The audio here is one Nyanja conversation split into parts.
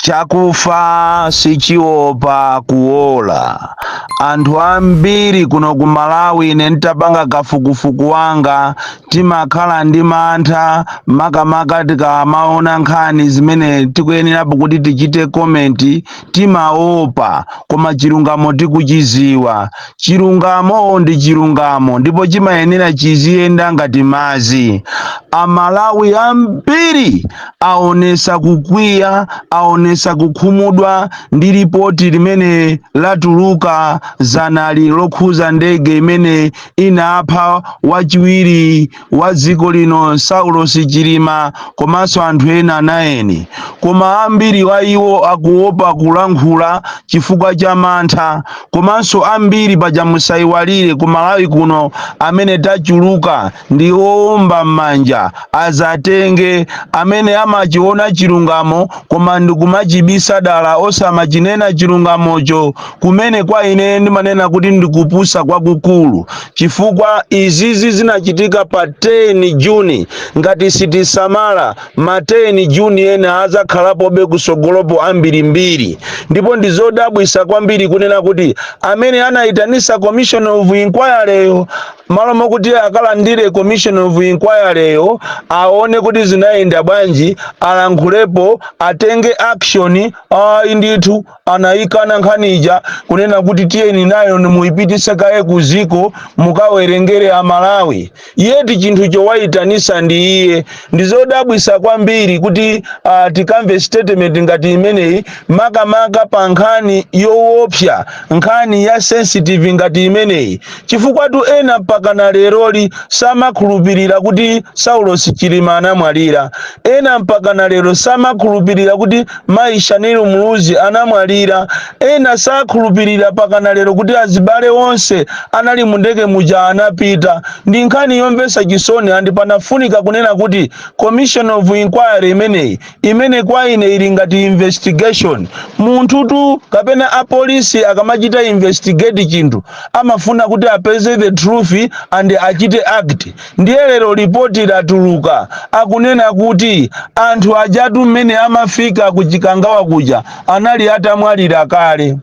chakufa sichiopa kuola anthu ambiri kuno ku malawi ine ntapanga kafukufuku wanga timakhala ndi mantha makamaka tikamaona nkhani zimene tikuyenerapo kuti tichite komenti timaopa koma chilungamo tikuchiziwa Chilungamo ndi chilungamo ndipo chimayenera chiziyenda ngati madzi. Amalawi ambiri aonesa kukwiya, aonesa kukhumudwa ndi lipoti limene latuluka zanali lokhuza ndege imene inapha wachiwiri wa dziko lino Saulosi Chilima komanso anthu ena naini koma ambiri wa iwo akuopa kulankhula chifukwa cha mantha komanso ambiri paja musaiwalire ku Malawi kuno amene tachuluka ndi oomba m'manja azatenge amene amachiona chilungamo koma ndikumachibisa dala osamachinena chilungamocho kumene kwa ine ndimanena kuti ndikupusa kwakukulu chifukwa izizi zinachitika pa 10 juni ngati sitisamala ma 10 juni ena azakhalapobe kusogolopo ambirimbiri ndipo ndizodabwisa kwambiri kunena kuti amene anayitanisa commission of inquiry yo malo mokuti akalandire commission of inquiry yo aone kuti zinayenda bwanji alankhulepo atenge action ayi ndithu anayikana nkhani ija kunena kuti tiyeni nayo nimuyipitise kaye kuziko mukawerengere amalawi yeti chinthu chowayitanisa ndi iye ndizodabwisa kwambiri kuti uh, tikamve statement ngati imeneyi makamaka pa nkhani yowopsa nkhani ya sensitive ngati imeneyi Chifukwatu ena mpakana leroli samakhulupirira kuti Saulos Chilima anamwalira. Ena mpakana lero samakhulupirira kuti mayi Shanil Muluzi anamwalira. Ena sakhulupirira pakana lero kuti azibale onse anali mundege muja anapita. Ndi nkhani yomvesa chisoni and panafunika kunena kuti commission of inquiry imeneyi imene kwa ine ili ngati investigation munthutu kapena apolisi akamachita investigate chinthu amafuna kuti apeze the truth and achite act ndiye lero lipoti latuluka akunena kuti anthu ajatu mmene amafika ku chikangawa kuja anali atamwalira kale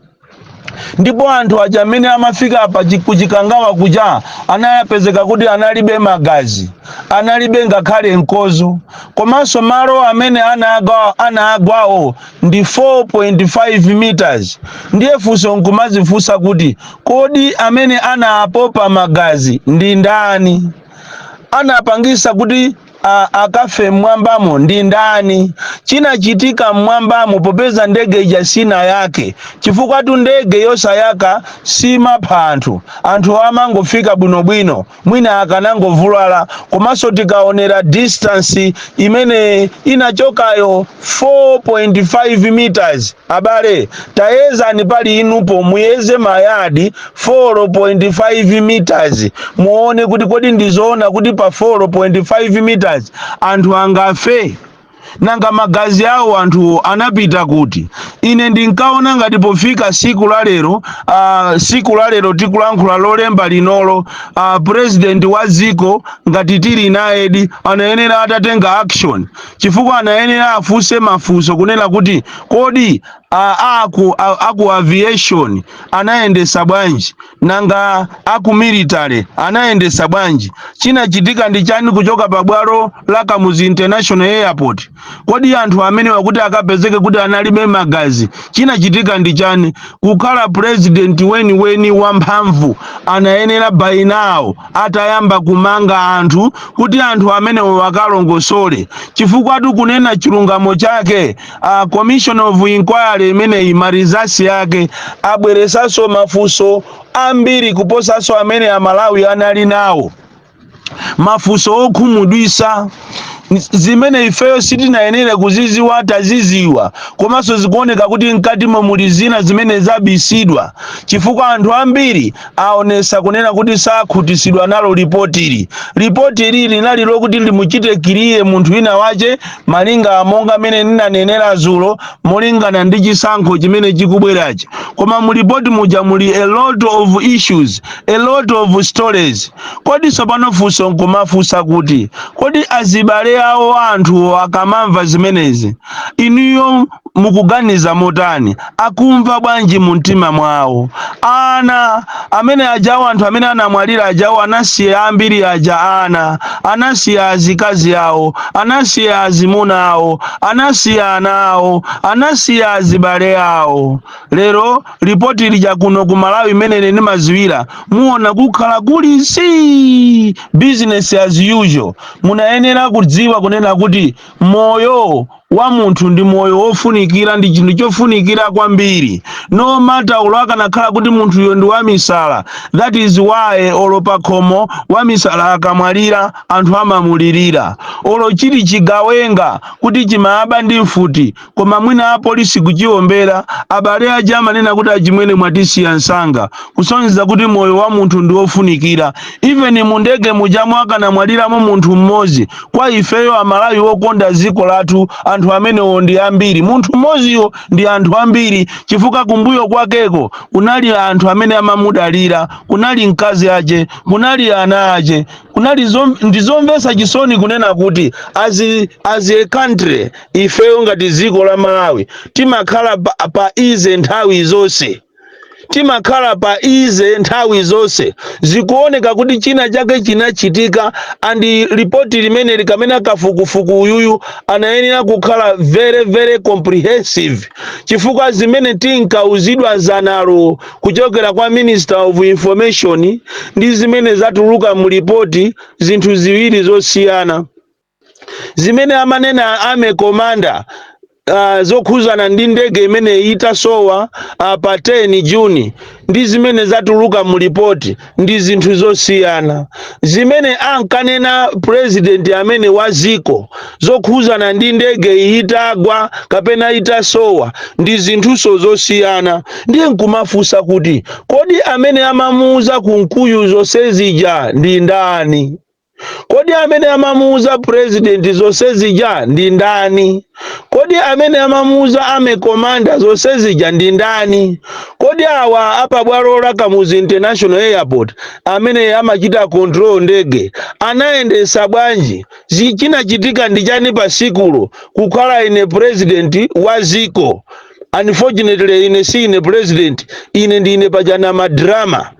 ndipo anthu aja amene amafika pa chi- ku chikangawa kuja anapezeka kuti analibe magazi analibe ngakhale mkozo komanso malo amene anagwawo ndi 4.5 meters ndiye funso nkumazifunsa kuti kodi amene anapopa magazi ndi ndani anapangisa kuti a akafe mmwambamo ndi ndani chinachitika mmwambamo popeza ndege ija sinayake chifukwatu ndege yosayaka simapha anthu anthu amangofika bwinobwino mwina akanangovulala komanso tikaonera distance imene inachokayo 4.5 meters Abale tayezani pali inupo muyeze mayadi 4.5 meters muone kuti kodi ndizoona kuti pa 4.5 meters anthu angafe? Nanga magazi awo anthu anapita kuti? Ine ndinkaona ngati pofika siku la lero ah, siku la lero tikulankhula lolemba linolo ah, president wa dziko ngati tili nayedi anayenera atatenga action chifukwa anayenera afunse mafunso kunena kuti kodi a aku a- aku aviation anayendesa bwanji nanga aku military anayendesa bwanji chinachitika ndi chani kuchoka pa bwalo la kamuzu international airport kodi anthu amenewa kuti akapezeke kuti analibe magazi chinachitika ndi chani kukhala president weniweni wamphamvu anayenera by now atayamba kumanga anthu kuti anthu amenewo akalongosole chifukwa tikunena chilungamo chake commission of inquiry imeneyi marizasi yake abweresanso mafunso ambiri kuposanso amene amalawi anali nawo mafunso okhumudwisa zimene ifeyo sitinayenere kuziziwa taziziwa komanso zikuoneka kuti mkatimo muli zina zimene zabisidwa chifukwa anthu ambiri aonesa kunena kuti sakhutisidwa nalo lipotili lipotili linali lokuti limuchite kiriye munthu wina wache malinga monga mene ninanenera zulo molingana ndi chisankho chimene chikubwerachi koma mulipoti muja muli a lot of issues a lot of stories Kodi sopano funso nkumafunsa kuti, kodi azibale awo a anthu akamamva zimenezi, inuyo mukuganiza motani? Akumva bwanji mumtima mwawo? Ana amene ajawo, anthu amene anamwalira ajawo, anasiya ambiri aja ana, anasiya azikazi awo, anasiya azimuna awo, anasiya ana awo, anasiya azibale awo. Lero lipoti lija kuno ku malawi imene ine ndimaziwira muona kukhala kuli si business as usual munayenera kudziwa kunena kuti moyo wa munthu ndi moyo wofunikira ndi chinthu chofunikira kwambiri no matter olo akanakhala kuti munthuyo ndi wamisala that is why olo pakhomo wamisala akamwalira anthu amamulirira olo chili chigawenga kuti chimaaba ndi mfuti koma mwina apolisi kuchiwombera abale aja amanena kuti achimwene mwatisiya msanga kusonyeza kuti moyo wa munthu ndi wofunikira even mu ndege mujamo akanamwaliramo munthu mmodzi kwa ifeyo amalawi wokonda dziko lathu anthu amenewo ndi ambiri munthu mmodziyo ndi anthu ambiri chifukwa kumbuyo kwakeko kunali anthu amene amamudalira kunali mkazi ache kunali ana ache kunali ndi zomvetsa chisoni kunena kuti as a country ifeyo ngati dziko la malawi timakhala pa ease nthawi zonse timakhala pa ease nthawi zonse zikuoneka kuti china chake chinachitika and lipoti limene likamena kafukufuku uyuyu anayenera kukhala very very comprehensive chifukwa zimene tinkauzidwa dzanalo kuchokera kwa minister of information ndi zimene zatuluka mu lipoti zinthu ziwiri zosiyana zimene amanena army commander zokhuzana ndi ndege imene itasowa pa 10 Juni ndi zimene zatuluka mu lipoti ndi zinthu zosiyana zimene ankanena president amene wa ziko zokhuzana ndi ndege itagwa kapena itasowa ndi zinthuso zosiyana ndiye nkumafunsa kuti kodi amene amamuuza Kunkuyu zonse zija ndi ndani Kodi amene amamuuza president zonse zija ndi ndani? Kodi amene amamuuza army commander zonse zija ndi ndani? Kodi awa apabwalo la Kamuzu International Airport amene amachita control ndege anayendesa bwanji? Zi- Chinachitika ndi chani pa sikulo kukhala ine president wa ziko? Unfortunately ine si ine president, ine ndine pajana ma drama.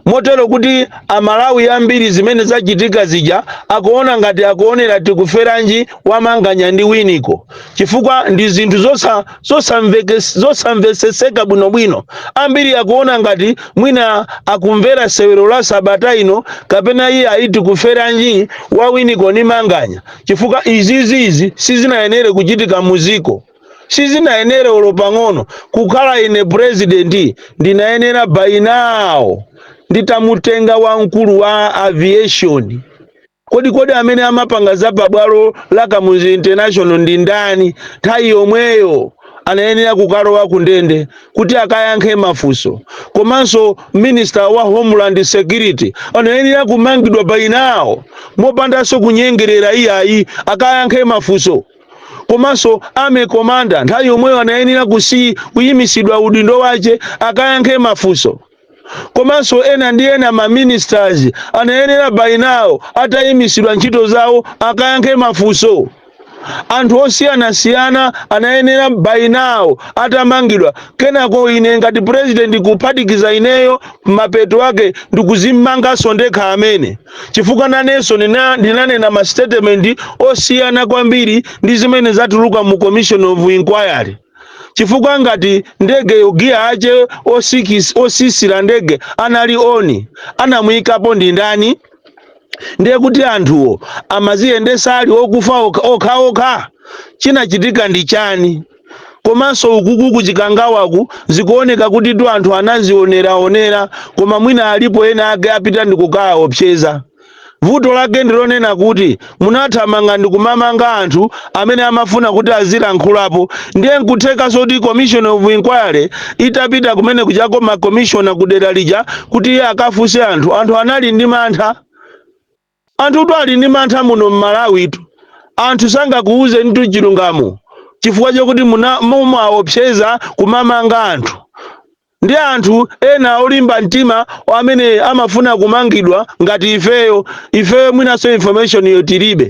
motero kuti amalawi ambiri zimene zachitika zija akuona ngati akuonera tikuferanji wa manganya ndi winiko chifukwa ndi zinthu zosamveseseka bwinobwino ambiri akuona ngati mwina akumvera sewero la sabata ino kapena iye ayi tikuferanji wa winiko ni manganya chifukwa izizizi sizinayenere kuchitika muziko sizinayenere olo pang'ono kukhala ine purezidenti ndinayenera by now nditamutenga wamkulu wa aviation kodi kodi amene amapanga za pabwalo la kamuzu international ndi ndani nthawi yomweyo anayenera kukalowa ku ndende kuti akayankhe mafunso komanso minister wa homeland security anayenera kumangidwa by now mopandanso kunyengerera iyayi akayankhe mafunso komanso army commander nthawi yomweyo anayenera kusi kuyimisidwa udindo wache akayankhe mafunso komanso ena ndi ena ma ministers anayenera by now atayimisidwa ntchito zawo akayankhe mafunso anthu osiyanasiyana anayenera by now atamangidwa kenako ine ngati president kuphatikiza ineyo mapeto ake ndikuzimanganso ndekha amene chifukwa nanenso ndina- ndinanena ma statement osiyana kwambiri ndi zimene zatuluka mu commission of inquiry chifukwa ngati ndege yo giya ache osisi- otsitsira ndege anali on anamuyikapo ndi ndani ndiye kuti anthuwo amaziyendesa ali okufa okha okha chinachitika ndi chani komanso ukuku ku chikangawaku zikuoneka kutitu anthu anazioneraonera koma mwina alipo ena ake apita ndikukawaopseza vuto lake ndilonena kuti munathamanga ndikumamanga anthu amene amafuna kuti azilankhulapo ndiye nkutheka zoti commission of inquiry itapita kumene kujako makomishona kudera lija kuti iye akafunse anthu anthu anali ndi mantha Anthutu ali ndi mantha muno mmalawitu anthu sangakuuzenitu chilungamo chifukwa chokuti mu- mumawaopseza kumamanga anthu ndi anthu ena olimba mtima amene amafuna kumangidwa ngati ifeyo ifeyo mwinanso information yo tilibe.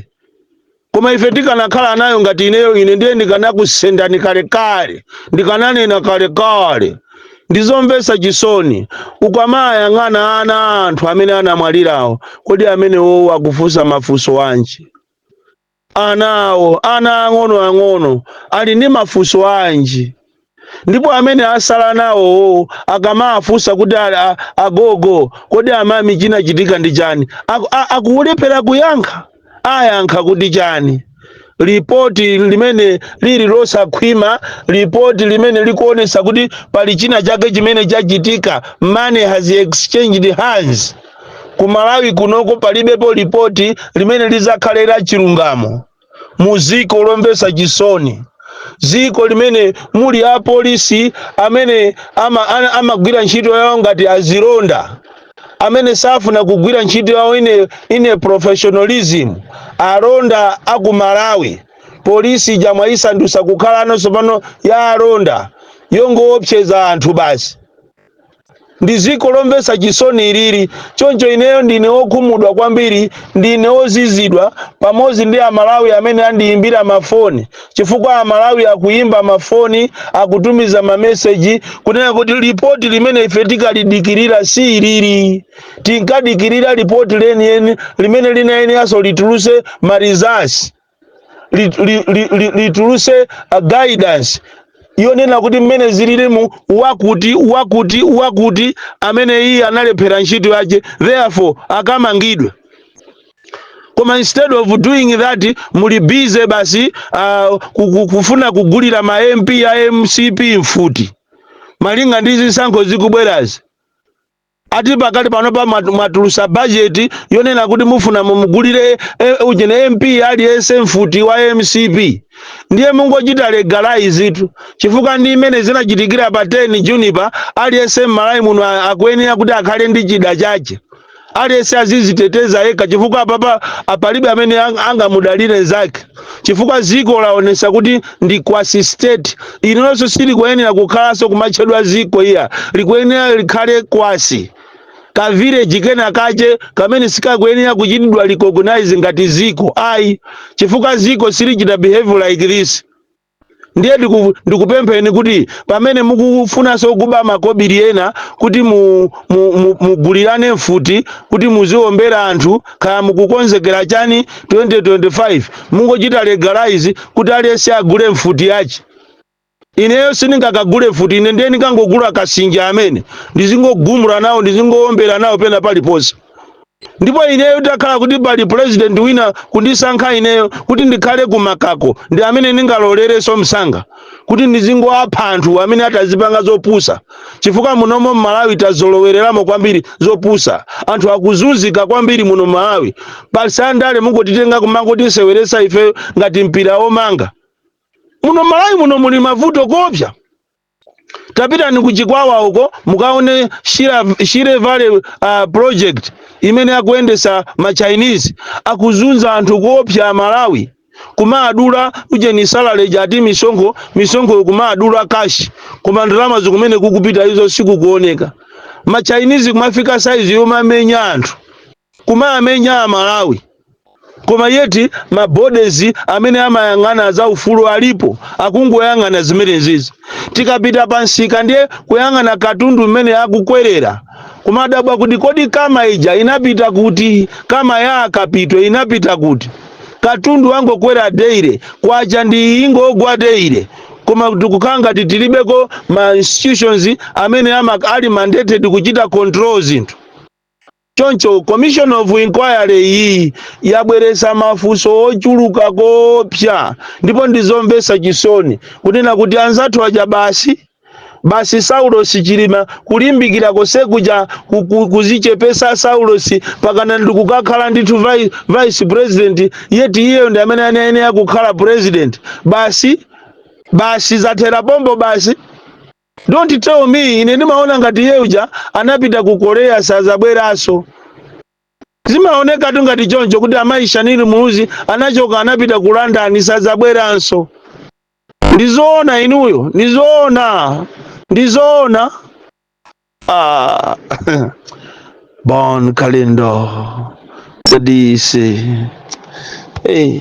Koma ife tikanakhala nayo ngati ineyo, ine ndiye ndikanakusendani kalekale, ndikananena kalekale. Ndi zomvetsa chisoni, ukamayang'ana ana a anthu amene anamwalirawo, kodi amenewowo akufunsa mafunso anji? Anawo, ana ang'onoang'ono, ali ndi mafunso anji? ndipo amene asala nawowo akamawafunsa kuti a- a- agogo kodi amami chinachitika ndi chani Aku- a- akulephera kuyankha ayankha kuti chani lipoti limene lili losakhwima lipoti limene likuonesa kuti pali china chake chimene chachitika money has exchanged hands ku malawi kunoko palibepo lipoti limene lizakhala la chilungamo mu dziko lomvetsa chisoni dziko limene muli apolisi amene ama- ana- amagwira ntchito yawo ngati azilonda amene safuna kugwira ntchito yawo in a, in a professionalism alonda aku malawi polisi ija mwaisandutsa kukhala ino tsopano ya alonda yongoopseza anthu basi ndi dziko lomvetsa chisoni ilili choncho ineyo ndine wokhumudwa kwambiri ndine wozizidwa pamodzi ndi amalawi amene andiyimbira mafoni chifukwa amalawi akuyimba mafoni akutumiza mameseji kunena kuti lipoti limene ife tinkalidikirira si ilili tinkadikirira lipoti lenileni limene linayenera lituluse ma results lituluse guidance yonena kuti mmene zililimu wakuti wakuti wakuti amene iye analephera ntchito yace therefore akamangidwe koma instead of doing that muli busy basi uh, kufuna kugulira ma mp a mcp mfuti malinga ndi zisankho zikubwerazi ati pakali panopa mwat- mwatulusa bajeti yonena kuti mufuna mumugulire eh, ujene mp aliyense mfuti wa mcp ndiye mungochita legalize tu chifukwa ndi mmene zinachitikira pa 10 June pa aliyense mmalawi muno a- akuyenera kuti akhale ndi chida chache aliyense aziziteteza yekha chifukwa apapa apalibe amene ang- angamudalire zake chifukwa ziko laonesa kuti ndi quasi state ilonso silikuyenera kukhalanso kumatchedwa ziko iya likuyenera likhale quasi ka village kena kachekamene sikakuyenera kuchitidwa recognize ngati ziko ayi chifukwa ziko silichita behave like this ndiye ndiku- ndikupempheni kuti pamene mukufunanso kuba makobiri ena kuti mu- mu- mu- mugulirane mfuti kuti muziombera anthu kaya mukukonzekera chani 2025 mungochita legalize kuti aliyense agule mfuti yache ineyo sindingakagule mfuti ine ndiye ndikangogula kasinja amene ndizingogumula nawo ndizingoombera nawo pena paliponse Ndipo ineyo itakhala kuti pali pulezidenti wina kundisankha ineyo kuti ndikhale ku Mangako, ndi amene ndingalolerenso msanga kuti ndizingowapha anthu amene atazipanga zopusa, chifukwa muno m'Malawi tazolowereramo kwambiri zopusa. Anthu akuzunzika kwambiri muno m'Malawi, basi andale mungotitenga kumangotiseweretsa ifeyo ngati mpira womanga. Muno m'Malawi muno muli mavuto koopsa. tapitani ku chikwawa uko mukaone shire, shire valley uh, project imene akuyendesa ma chinese akuzunza anthu kuopsa amalawi kumadula ujeni salale ija ati misonkho misonkho kumadula kashi koma ndalama zo kumene zikupita izo sikukuoneka ma chinese kumafika saizi yomamenya anthu kumamenya amalawi koma yeti ma bodies amene amayang'ana za ufulu alipo akungoyang'ana zimenezizi tikapita pansika ndiye kuyang'ana katundu mmene akukwerera kumadabwa kuti kodi kama ija inapita kuti kama ya a Kapito inapita kuti katundu wangokwera daily kwacha nayo ikungogwa daily koma tikukhala ngati tilibeko ma institutions amene ama, ali mandated kuchita control zinthu Choncho Commission of Inquiry iyi yabweretsa mafunso ochuluka koopsa ndipo ndizomvetsa chisoni kunena kuti anzathu aja basi basi Saulosi Chilima kulimbikira kosekuja ku- ku- kuzichepesa Saulosi pakana ndi kukakhala ndithu vi- vice president yeti iyeyo ndi amene anayenera kukhala president basi basi zathera pompo basi Don't tell me ine ndimaona ngati iye uja anapita ku Korea sazabweranso. Zimaonekatu ngati choncho kuti amayi Shanil Muluzi anachoka anapita ku London sazabweranso. Ndizoona inuyo, ndizoona, ndizoona. Ah, Bon Kalindo, the DC. Hey.